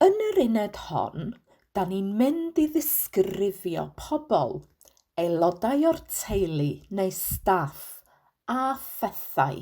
Yn yr uned hon, da ni'n mynd i ddisgrifio pobl, aelodau o'r teulu neu staff a phethau.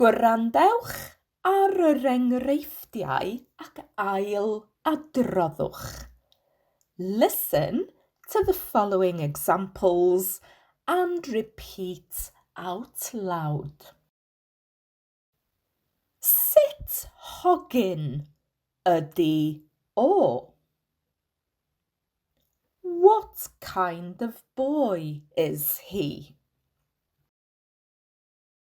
Gwrandewch ar yr enghreifftiau ac ail adroddwch. Listen to the following examples and repeat out loud. Sut hogyn ydy o? What kind of boy is he?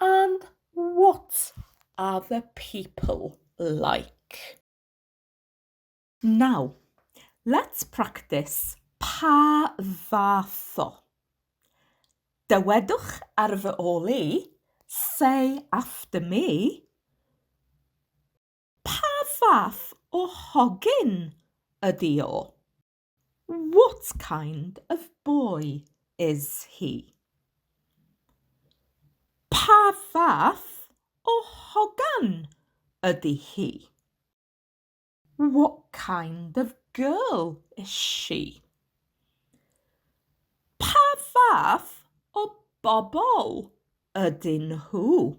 And what are the people like? Now, let's practice pa fath o. Dywedwch ar fy ôl i, say after me, Pa fath o hogyn ydi o? What kind of boy is he? Pa fath o hogan ydy hi? What kind of girl is she? Pa fath o bobl ydyn nhw?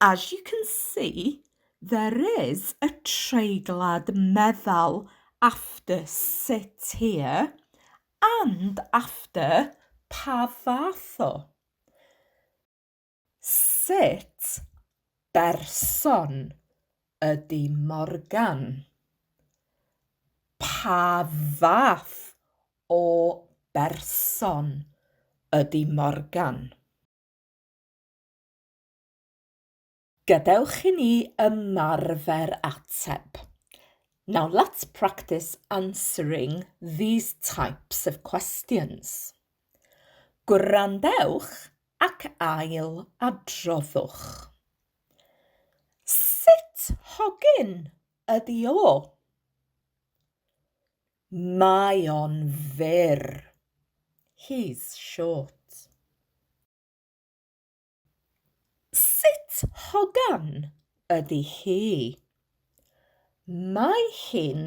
As you can see, there is a treiglad meddal after sut here and after pa fath o. Sut berson ydy Morgan? Pa fath o berson ydy Morgan? Gadewch i ni ymarfer ateb. Now let's practice answering these types of questions. Gwrandewch ac ail adroddwch. Sut hogyn ydi o? Mae o'n fyr. He's short. Sut hogan ydy hi? Mae hi'n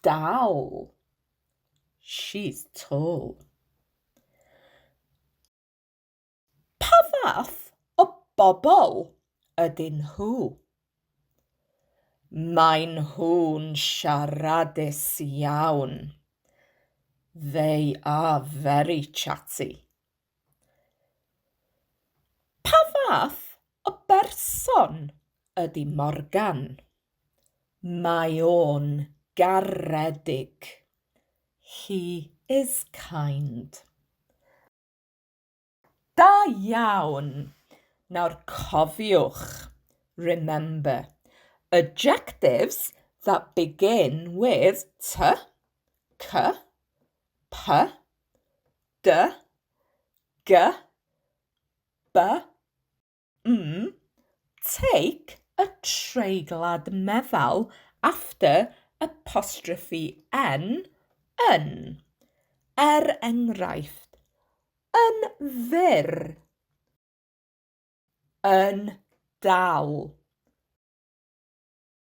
dal. She's tall. Pa fath o bobl ydyn nhw? Maen nhw'n siaradus iawn. They are very chatty. Pa fath o berson ydy Morgan? Mae o'n garedig. He is kind. Da iawn! Nawr cofiwch, remember, adjectives that begin with 'ty', 'cy', P, D, G, B, M, take a treiglad meddal after apostrophe n, yn. Er enghraifft, yn fyr, yn dal.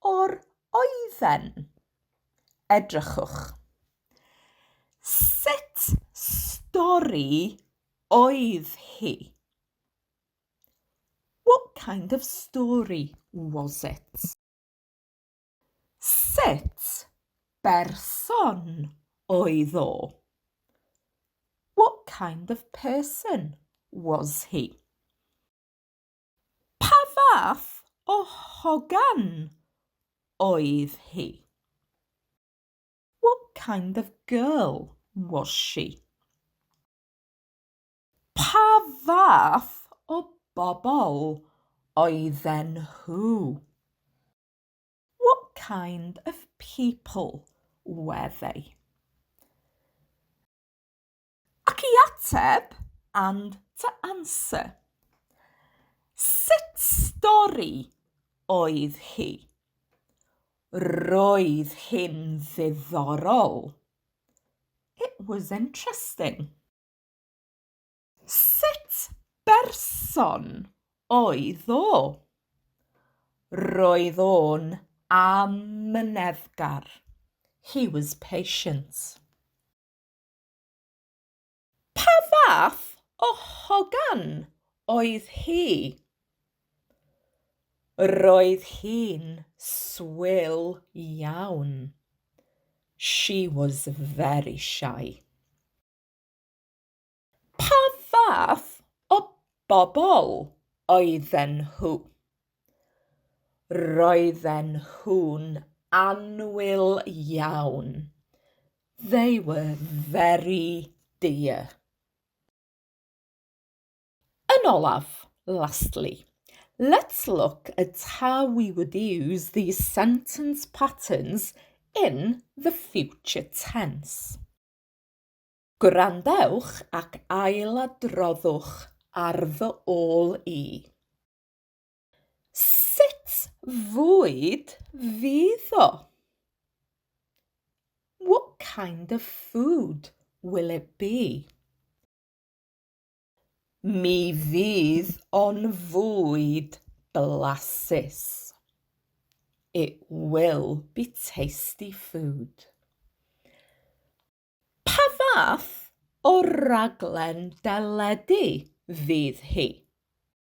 O'r oedden. Edrychwch. Sut stori oedd hi? What kind of story was it? Sut berson oedd o? What kind of person was he? Pa fath o hogan oedd hi? What kind of girl was she? Pa fath o bobl oedden nhw? What kind of people were they? Ac i ateb, and to answer. Sut stori oedd hi? Roedd hi'n ddiddorol. It was interesting. Sut berson oedd o? Roedd o'n amyneddgar. He was patient. Pa fath o hogan oedd hi? Roedd hi'n swil iawn. She was very shy. Pa fath o bobl oedden nhw? Roedden nhw'n annwyl iawn. They were very dear. Yn olaf, lastly, let's look at how we would use these sentence patterns in the future tense. Gwrandewch ac ailadroddwch ar fy ôl i. Sut fwyd fydd o? What kind of food will it be? Mi fydd o'n fwyd blasus. It will be tasty food. Pa fath o raglen deledu fydd hi?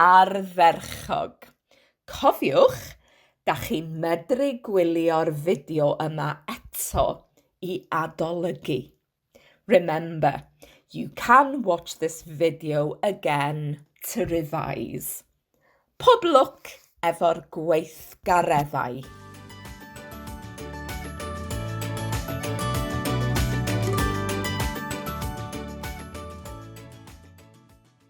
ardderchog. Cofiwch, da chi medru gwylio'r fideo yma eto i adolygu. Remember, you can watch this video again to revise. Pob lwc efo'r gweithgareddau.